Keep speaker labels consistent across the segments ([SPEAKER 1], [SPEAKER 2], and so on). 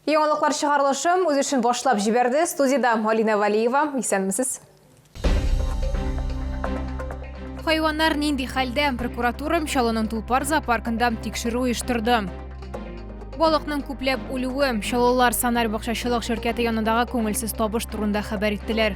[SPEAKER 1] Яңалыклар чыгарылышы үз эшен башлап җибәрде. Студиядә Алина Валиева. Исәнмесез. Хайваннар нинди хәлдә? Прокуратура Чаллының Тулпар зоопаркында тикшерү оештырды. Балыкның күпләп үлүе, Чаллылар Санар бакчачылык ширкәте янындагы күңелсез табыш турында хәбәр иттеләр.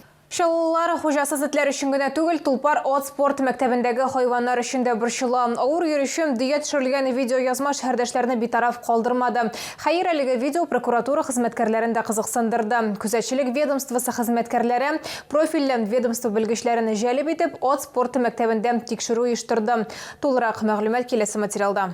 [SPEAKER 1] Чаллылылар хуҗасыз этләр өчен генә түгел, Тулпар ат спорты мәктәбендәге хайваннар өчен дә борчыла. Авыр йөрүчем, дөя төшерелгән видеоязма шәһәрдәшләрне битараф калдырмады. Хәер, әлеге видео прокуратура хезмәткәрләрен дә кызыксындырды. Күзәтчелек ведомствосы хезмәткәрләре, профильле ведомство белгечләрен җәлеп итеп, ат спорты мәктәбендә тикшерү оештырды. Тулырак мәгълүмат киләсе материалда.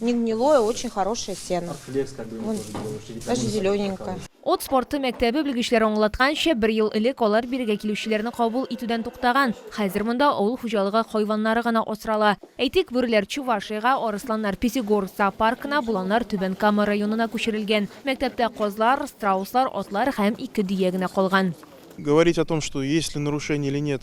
[SPEAKER 2] Не гнилое, очень хорошее сено. Даже зелененькое. Ат спорты
[SPEAKER 1] мәктәбе белгечләре аңлатканча, бер ел элек алар бирегә килүчеләрне кабул итүдән туктаган. Хәзер монда авыл хуҗалыгы хайваннары гына асрала. Әйтик, бүреләр Чувашиягә, арысланнар Пятигорск зоопаркына, боланнар Түбән Кама районына күчерелгән. Мәктәптә казлар, страуслар, атлар һәм ике дөя генә калган. Говорить о том,
[SPEAKER 3] что есть ли нарушение или нет,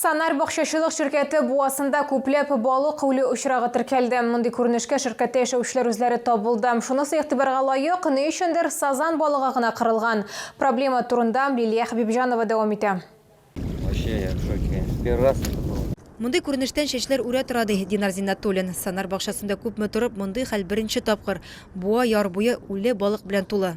[SPEAKER 1] Санар бакчачылык ширкәте буасында күпләп балык үлү очрагы теркәлде. Мондый күренешкә ширкәттә яшәүчеләр үзләре табылды. Шунысы игътибарга лаек, ни өчендер сазан балыгы гына кырылган. Проблема турында Лилия Хәбибҗанова дәвам итә.
[SPEAKER 4] Мондый күренештән
[SPEAKER 5] чәчләр үрә тора, ди Динар Зиннәтуллин. Санар бакчасында күпме торып, мондый хәл беренче тапкыр. Буа яр буе үле балык белән тулы.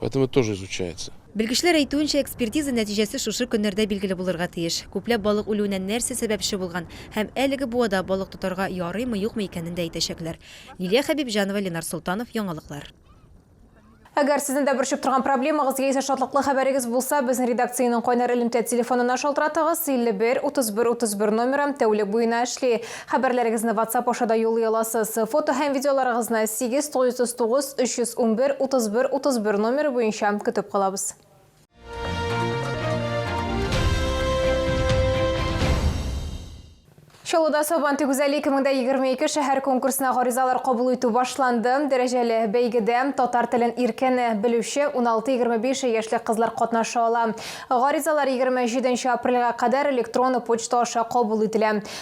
[SPEAKER 3] Поэтому это тоже изучается. Белгечләр әйтүенчә,
[SPEAKER 5] экспертиза нәтиҗәсе шушы көннәрдә билгеле булырга тиеш. Күпләп балык үлүенә нәрсә сәбәпче булган һәм әлеге буада балык тотарга ярыймы-юкмы икәнен дә әйтәчәкләр. Лилия Хәбибҗанова, Ленар Солтанов, Яңалыклар. Әгәр
[SPEAKER 1] сезнең дә борчып торган проблемагыз яисә шатлыклы хәбәрегез булса, безнең редакциянең кайнар элемтә телефонына шалтыратыгыз, 51 31 31 номеры тәүлек буена эшли. Хәбәрләрегезне WhatsApp аша да юллый аласыз. Фото һәм видеоларыгызны 8939 311 31 31 номеры буенча көтеп калабыз. Чаллыда Сабантуй гүзәле 2022 шәһәр конкурсына гаризалар кабул итү башланды. Дәрәҗәле бәйгедә татар телен иркен белүче 16-25 яшьлек кызлар катнаша ала. Гаризалар 27 апрельгә кадәр электрон почта аша кабул ителә.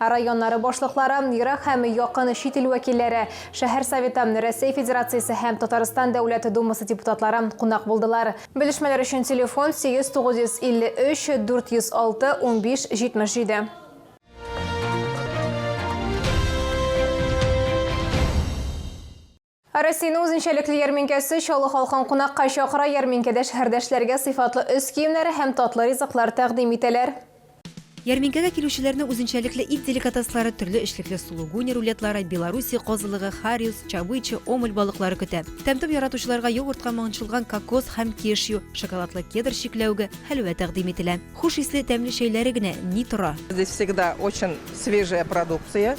[SPEAKER 1] Ә районнары башлыклары, ерак һәм якын чит ил вәкилләре, шәһәр Советы, Рәсәй Федерациясе һәм Татарстан Дәүләт Думасы депутатлары кунак булдылар. Белешмәләр өчен телефон, 8-953, 406, 15, 77. Ә Россиянең үзенчәлекле ярминкәсе Чаллы халкын кунакка чакыра, ярминкәдә шәһәрдәшләргә сыйфатлы өс киемнәре һәм татлы ризыклар тәкъдим итәләр. Ярминкәгә
[SPEAKER 5] килүчеләрне үзенчәлекле ит деликатеслары, төрле эчлекле сулугуни рулетлары, белоруссия козылыгы, хариус, чабыча, омуль балыклары көтә. Тәм-том яратучыларга йогуртка маңчылган кокос һәм кешью, шоколадлы кедр чикләвеге, хәлвә тәкъдим ителә. Хуш исле, тәмле чәйләре генә ни тора! Здесь всегда очень
[SPEAKER 6] свежая продукция.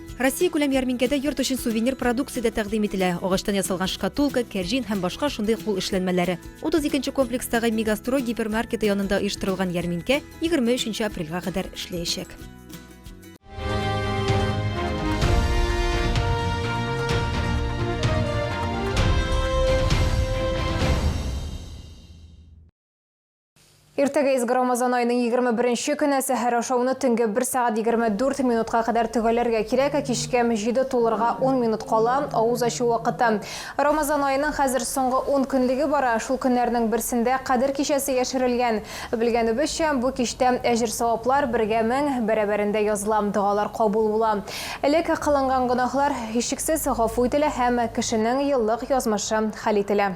[SPEAKER 7] Россиякүләм
[SPEAKER 5] ярминкәдә йорт өчен сувенир продукция дә тәкъдим ителә, агачтан ясалган шкатулка, кәрҗин һәм башка шундый кул эшләнмәләре. 32 нче комплекстагы Мегастрой гипермаркеты янында оештырылган ярминкә 23 нче апрельгә кадәр эшләячәк.
[SPEAKER 1] Иртәгә изге Рамазан айының 21 нче көне сәхәр ашауны төнге 1 сәгать 24 минутка кадәр төгәлләргә кирәк, ә кичке мҗиде тулырга 10 минут кала, авыз ачу вакыты. Рамазан аеның хәзер соңгы 10 көнлеге бара, шул көннәрнең берсендә Кадер кичәсе яшерелгән. Белгәнебезчә, бу кичтә әҗер-саваплар бергә мең бәрабәрендә языла, догалар кабул була. Элек кылынган гөнаһлар, һичшиксез, гафу ителә һәм кешенең еллык язмышы хәл ителә.